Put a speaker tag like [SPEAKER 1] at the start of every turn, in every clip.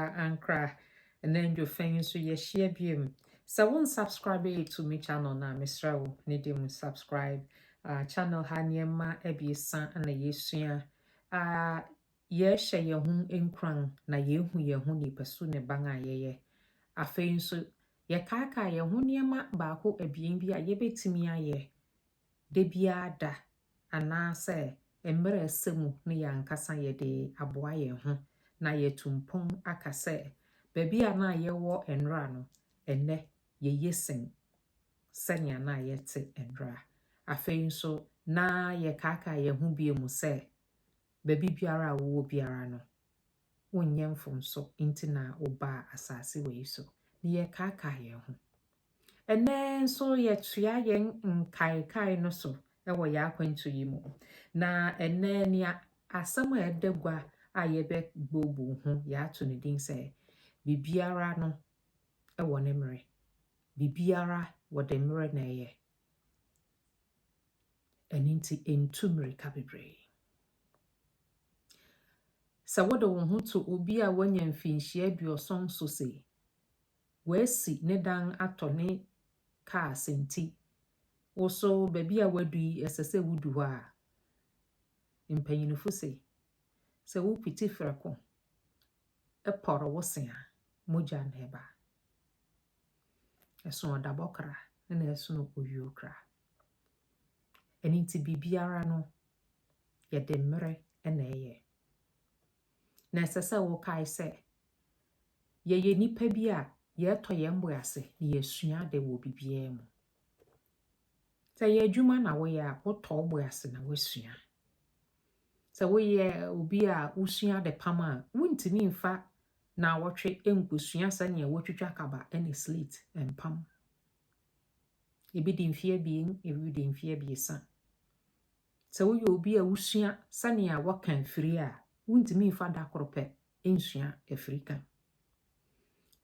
[SPEAKER 1] koraa ankra anadwo fɛn nso yɛahyia biom sɛ wo nsubscribe yɛ to me channel no a mesrɛ wo ne de mu subscribe uh, channel ha nneɛma abiesa na yɛsua uh, yɛhyɛ yɛn ho nkuran na yɛhu yɛn ho nipasu ne ban a yɛyɛ afei nso yɛkaakaa yɛn ho nneɛma baako abien bi a yɛbɛtumi ayɛ da biara da anaasɛ mmerɛ ɛsɛ mu no yɛn ankasa yɛde aboa yɛn ho na yɛatu mpɔn aka sɛ baabi a na yɛwɔ nnora no, ɛnnɛ yɛye sen sɛnea na yɛte nnora. Afei nso, na yɛkaakaa yɛn ho bio mu sɛ baabi biara a wowɔ biara no, wonyɛ mfomso nti na wobaa asase wei so, na yɛkaakae yɛn ho. Ɛnnɛ nso yɛtoa yɛn nkaekae no so wɔ yɛn akwantu yi mu. Na ɛnnɛ nea asɛm a ɛda gua a yɛbɛbooboo ho yɛato ne din sɛ biribiara no wɔ ne mmerɛ. Biribiara wɔde mmerɛ na ɛyɛ. Ɛno nti ɛntu mmirika bebree. Sɛ wode wo ho to obi a wanya mfinhyia aduɔson so se wasi ne dan atɔ ne kaa se nti, wo so baabi a wadu yi ɛsɛ sɛ wodu hɔ a, mpanyinifo se sɛ wopiti frɛko pɔre wo se a, mogya na ɛba. Ɛso ɔdabɔ kra na ɛsono owuo kra. Ɛno nti biribiara no yɛde mmerɛ na ɛyɛ. Na ɛsɛ sɛ wokae sɛ yɛyɛ nnipa bi a yɛtɔ yɛn bo ase na yɛsua ade wɔ biribiara mu. Sɛ yɛ adwuma na woyɛ a wotɔ wo bo ase na woasua. Sɛ woyɛ obi a wosua ade pam a wontumi mfa na wɔtwe nkosua sɛnea wotwitwa kaba ne slate mpam. Ebi di mfe abien, ebi di mfe abiɛsa. Sɛ woyɛ obi a wusua sɛnea wɔka afiri a, wuntumi mfa da koro pɛ nsua afiri ka.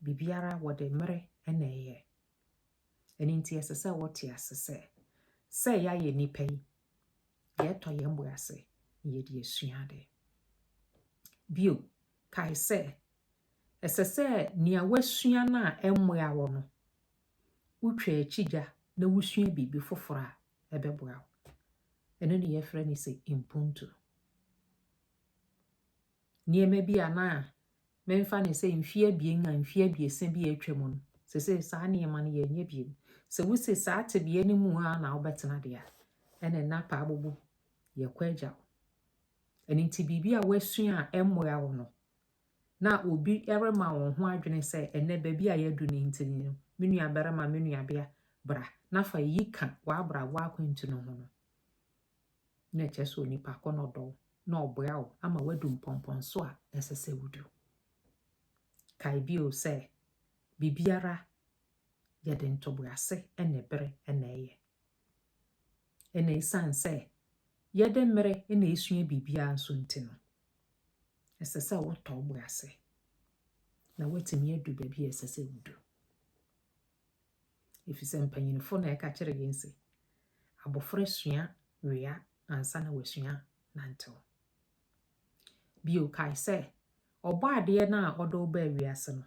[SPEAKER 1] Biribiara wɔde mmere na ɛyɛ. Ɛno nti ɛsɛ sɛ wɔte ase sɛ sɛ yɛayɛ nnipa yi, yɛtɔ yɛn bo ase na yɛde asua ade. Bio, kae sɛ ɛsɛ sɛ nea woasua no a ɛmmoa wo no, wotwa akyigya na wusua biribi foforo a, ɛbɛboa wo. Ɛno ne yɛfrɛ no sɛ mpuntu. Nneɛma bi a na memfa ne sɛ mfeɛ abien a mfeɛ abiɛsa bi a atwa mu no, sɛ sɛ saa nneɛma no yɛnyɛ biom. Sɛ wosi saa tebea no mu a na wobɛtena deɛ a, ɛne nna paa bobo yɛkɔ agya wo. Ɛno nti biribi a woasua a ɛmmoa wo no, na obi rema wɔn ho adwene sɛ ɛnnɛ baabi a yɛadu no nti no, me nuabarima, me nuabea, bra na fa eyi ka w'abrabɔ akwantu no ho no, na ɛkyerɛ sɛ onipa kɔ na ɔdɔ wo na ɔboa wo ama wadu mpɔmpɔnso a ɛsɛ sɛ wodu. Kae bio sɛ biribiara yɛde ntoboase na ɛbere na ɛyɛ. Na esiane sɛ yɛde mmere na esua biribiara nso nti no, ɛsɛ sɛ wotɔ wo bo ase na woatumi adu baabi a ɛsɛ sɛ wudu. Efisɛ mpanyinfo na ɛka kyerɛ yɛn se, abofra sua wea ansa na wasua nantew. Bio kae sɛ, ɔbɔ adeɛ no a ɔde wo baa wiase no,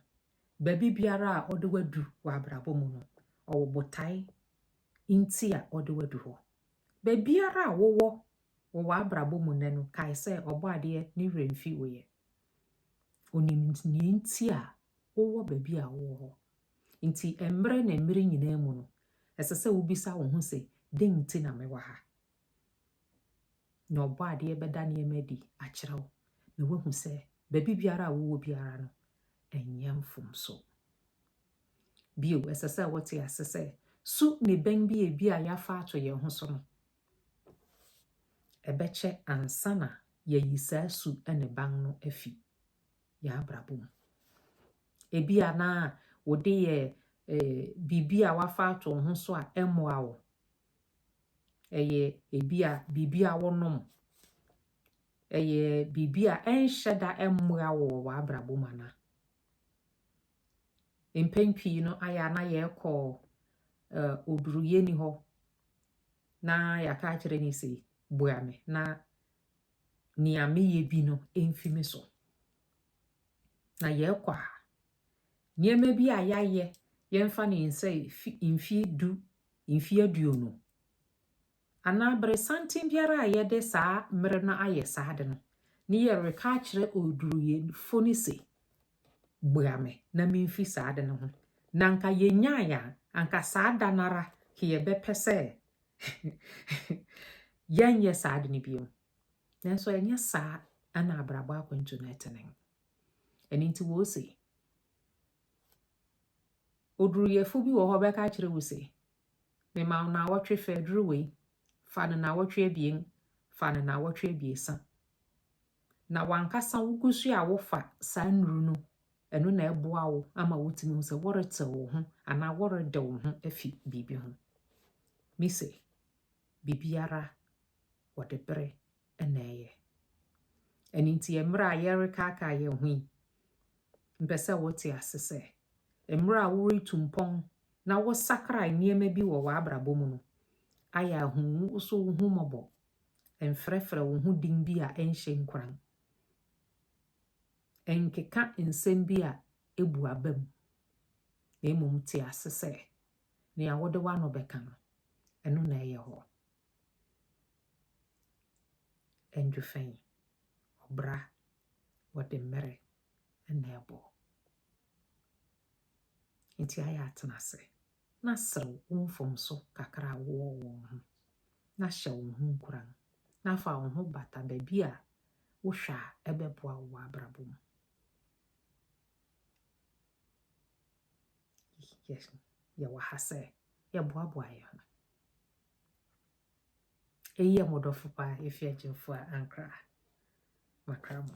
[SPEAKER 1] baabi biara a ɔde wadu wɔ abrabɔ mu no, ɔwɔ botae nti a ɔde wo adu hɔ. Baabiara a wowɔ wɔ w'abrabɔ mu nnɛ no, kae sɛ Ɔbɔadeɛ ne werɛ mfi wo yɛ. Onim nea nti a wowɔ baabi a wowɔ hɔ. Nti mmere ne mmere nyinaa mu no, ɛsɛ sɛ wobisa wo ho sɛ, dɛn nti na mewɔ ha? Na Ɔbɔadeɛ bɛda nneɛma adi akyerɛ wo na woahu sɛ baabi biara a wowɔ biara no, ɛnyɛ mfomso. Bio, ɛsɛ sɛ wote ase sɛ su ne bɛn bi a ebia yɛafa ato yɛn ho so no, ɛbɛkyɛ ansa na yɛayi saa su ne ban no afi yɛn abrabɔ mu. Ebia na wode yɛ eh, biribi a wafa ato ho so a ɛmmoa wo. Ɛyɛ ebia biribi a wonom. Ɛyɛ biribi a ɛnhyɛ da ɛmmoa wo wɔ w'abrabɔ mu anaa? mpɛn pii no ayɛ a na yɛkɔ oduruyɛni hɔ na yɛaka akyerɛ no sɛ boa me na nea meyɛ bi no mfi me so na yɛkɔ a nneɛma bi a yɛayɛ yɛmfa ne nsɛ mfie du mfie aduonu Anaa bere santen biara a yɛde saa mmere no ayɛ saa ade no, ne yɛreka akyerɛ oduruyɛfo no se, Bua me na mimfi saa ade no ho. Na anka yenyae a, anka saa da no ara yɛbɛpɛ sɛ yɛnyɛ saa ade no bio. Nanso ɛnyɛ saa na abrabɔ akwantu no ɛte ne. Ɛno nti wɔse, oduruyɛfo bi wɔ hɔ bɛka akyerɛ wo se, Mema wo naawɔtwe fa aduru wei, fa no naawɔtwe abien, fa no naawɔtwe abiesa. Na wankasa wogu so a wofa saa nnuru no, ɛno na ɛboa wo ama wotumi hu sɛ woretew wo ho anaa worede wo ho afi biribi ho. Me se, biribiara wɔde bere na ɛyɛ. Ɛno nti, mmerɛ a yɛrekaakaa yɛn ho yi, Mepɛ sɛ wote ase sɛ, mmerɛ a woretu mpɔn na wosakra nneɛma bi wɔ w'abrabɔ mu no, ayɛ a hu wo so wo ho mmɔbɔ. Mfrɛfrɛ wo ho din bi a ɛnhyɛ nkuran. Nkeka nsɛm bi a ɛbu aba mu. Na mmom te ase sɛ, nea wode w'ano bɛka no, ɛno na ɛyɛ hɔ. Andrew Fɛn, ɔbra. wɔde mmere na ɛbɔ. Enti ayɛ atena ase na serew wo mfomso kakra a wowɔ wɔ wo ho, na hyɛ wo ho nkuran, na fa wo ho bata baabi a wohwɛ a ɛbɛboa wo wɔ abrabɔ mu. Yɛwɔ ha sɛ yɛboaboa yɛn ho. Eyi yɛ mo dɔfo pa, efi agyinfo a ankra makra mo.